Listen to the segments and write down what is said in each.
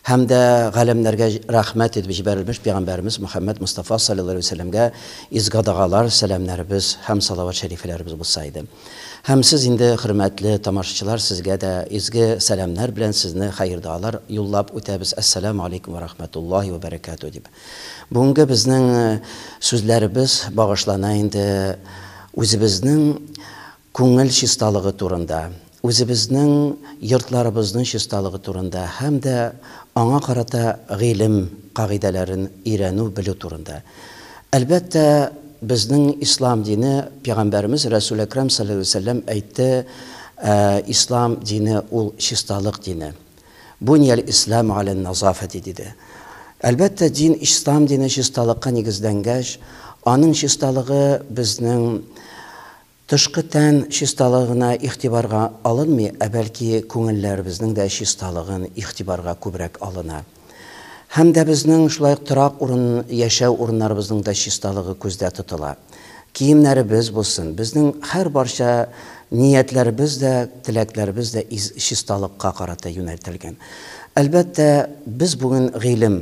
Һәм дә галәмнәргә рәхмәт итеп җибәрелмеш пигамбәребез Мөхәммәд Мостафа салләллаһу алейһи ва сәлләмгә изгодагалар, сәламнәребез һәм салават шәрифләребез булса иде. Һәм сез инде, хөрмәтле тамашачылар, сезгә дә изге сәламнәр белән сезне хәер-доалар юллап үтәбез, Әссәләмү алейкүм вә рәхмәтуллаһи вә бәрәкәтүһ дип. Бүгенге безнең сүзләребез багышлана инде үзебезнең күңел чисталыгы турында, үзебезнең йортларыбызның чисталыгы турында һәм дә аңа карата гыйлем кагыйдәләрен өйрәнү, белү турында. Әлбәттә, безнең Ислам дине, Пәйгамбәребез Рәсүл Әкрәм салләллаһу галәйһи ва сәлләм әйтте, Ислам дине ул чисталык дине. Бунияль исләмү галән назафәти, диде. Әлбәттә, дин, Ислам дине чисталыкка нигезләнгәч, аның чисталыгы безнең Тышкы тән чисталыгы гына игътибарга алынмый, ә бәлки күңелләребезнең дә чисталыгын игътибарга күбрәк алына. Һәм дә безнең шулай ук торак урын, яшәү урыннарыбызның да чисталыгы күздә тотыла. Киемнәребез булсын, безнең һәрбарча ниятләребез дә, теләкләребез дә чисталыкка карата юнәлтелгән. Әлбәттә, без бүген гыйлем.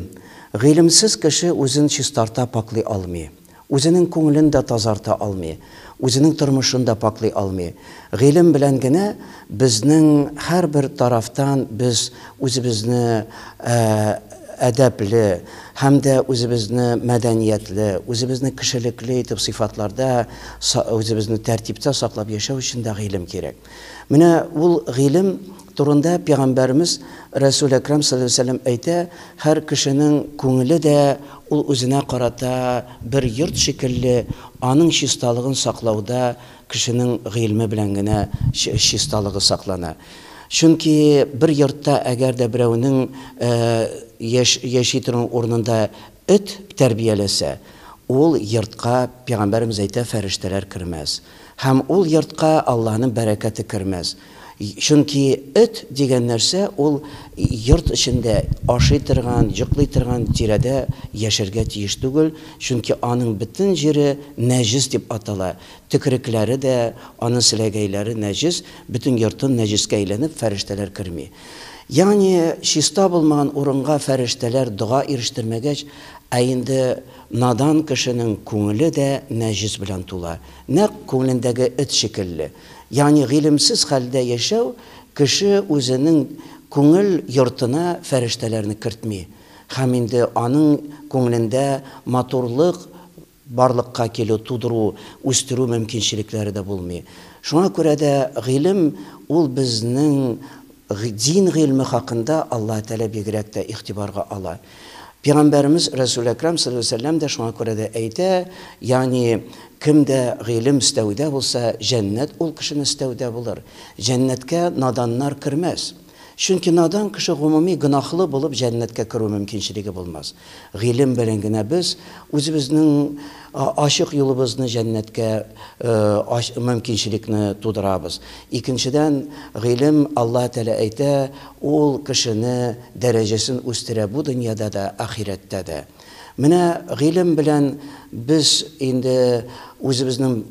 Гыйлемсез кеше үзен чистарта, пакълый алмый. Үзенең күңелен дә тазарта алмый, үзенең тормышын да пакълый алмый. Гыйлем белән генә безнең һәрбер тарафтан без үзебезне әдәпле һәм дә үзебезне мәдәниятле, үзебезне кешелекле итеп сыйфатларда үзебезне тәртиптә саклап яшәү өчен дә гыйлем кирәк. Менә ул гыйлем Турында Пәйгамбәрмез Рәсүл Әкрам салләллаһу галәйһи ва сәлләм әйтә, Һәр кешенең күңеле дә ул үзенә карата бер йорт шикелле, аның чисталыгын саклауда кешенең гыйльме белән генә чисталыгы саклана. Чөнки бер йортта әгәр дә берәүнең яши торган урынында эт тәрбияләсә, ул йортка, Пәйгамбәрмез әйтә, фәрештәләр кермәс. Һәм ул йортка Аллаһының бәрәкәте кермәс. Чөнки эт дигән нәрсә ул йорт эчендә ашый торган, йоклый торган тирәдә яшәргә тиеш түгел, чөнки аның бөтен җире нәҗес дип атала, төкерекләре дә, аның селәгәйләре нәҗес, бөтен йортын нәҗескә әйләнеп, фәрештәләр керми. Ягъни чиста булмаган урынга фәрештәләр дога ирештермәгәч, ә инде надан кешенең күңеле дә нәҗес белән тула, нәкъ күңелендәге эт шикелле. Ягъни гыйлемсез хәлдә яшәү кеше үзенең күңел йортына фәрештәләрне кертми һәм инде аның күңелендә матурлык барлыкка килү, тудыру, үстерү мөмкинчелекләре дә булмый. Шуңа күрә дә гыйлем ул безнең дин гыйльме хакында Аллаһы Тәгалә бигрәк тә игътибарга ала. Пигамбәребез Рәсүл Әкрам салләллаһу галәйһи ва сәлләм дә шуңа күрә дә әйтә, ягъни кем дә гыйлем эстәүдә булса, җәннәт ул кешенең эстәүдә булыр. Җәннәткә наданнар кермәс. Чөнки надан кеше гомуми гөнаһлы булып җәннәткә керү мөмкинчелеге булмас. Гыйлем белән генә без үзебезнең ачык юлыбызны җәннәткә мөмкинчелекне тудырабыз. Икенчедән, гыйлем, Аллаһы Тәгалә әйтә, Ул кешене дәрәҗәсен үстерә бу дөньяда да, ахирәттә дә. Менә гыйлем белән без инде үзебезнең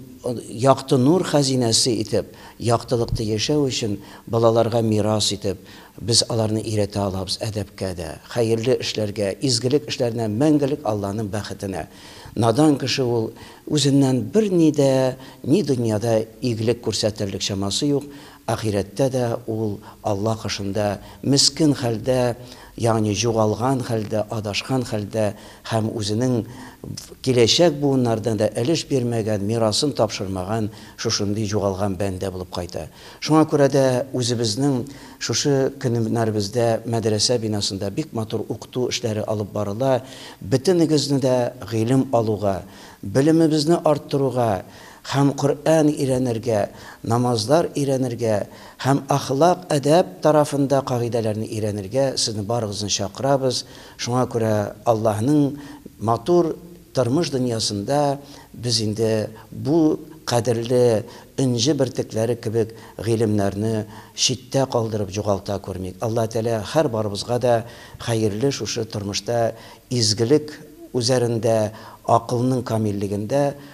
якты нур хәзинәсе итеп, яктылыкта яшәү өчен балаларга мирас итеп, без аларны өйрәтә алабыз әдәпкә дә, хәерле эшләргә, изгелек эшләренә, мәңгелек Алланың бәхетенә. Надан кеше ул, үзеннән берни дә, ни дөньяда игелек күрсәтерлек чамасы юк, Ахирәттә дә ул Алла кашында мескен хәлдә, ягъни җугалган хәлдә, адашкан хәлдә һәм үзенең киләчәк буыннарына да өлеш бирмәгән, мирасын тапшырмаган шушындый җугалган бәндә булып кайта. Шуңа күрә дә үзебезнең шушы көннәребездә мәдрәсә бинасында бик матур укыту эшләре алып барыла. Бөтенегезне дә гыйлем алуга, белемебезне арттыруга, Һәм Коръән өйрәнергә, намазлар өйрәнергә һәм әхлак, әдәп тарафында кагыйдәләрне өйрәнергә сезне барыгызны чакырабыз. Шуңа күрә Аллаһның матур тормыш дөньясында без инде бу кадерле энҗе бөртекләре кебек гыйлемнәрне читтә калдырып җугалта күрмик. Аллаһ Тәгалә һәр барыбызга да хәерле шушы тормышта изгелек үзәрендә, акылның камиллегендә,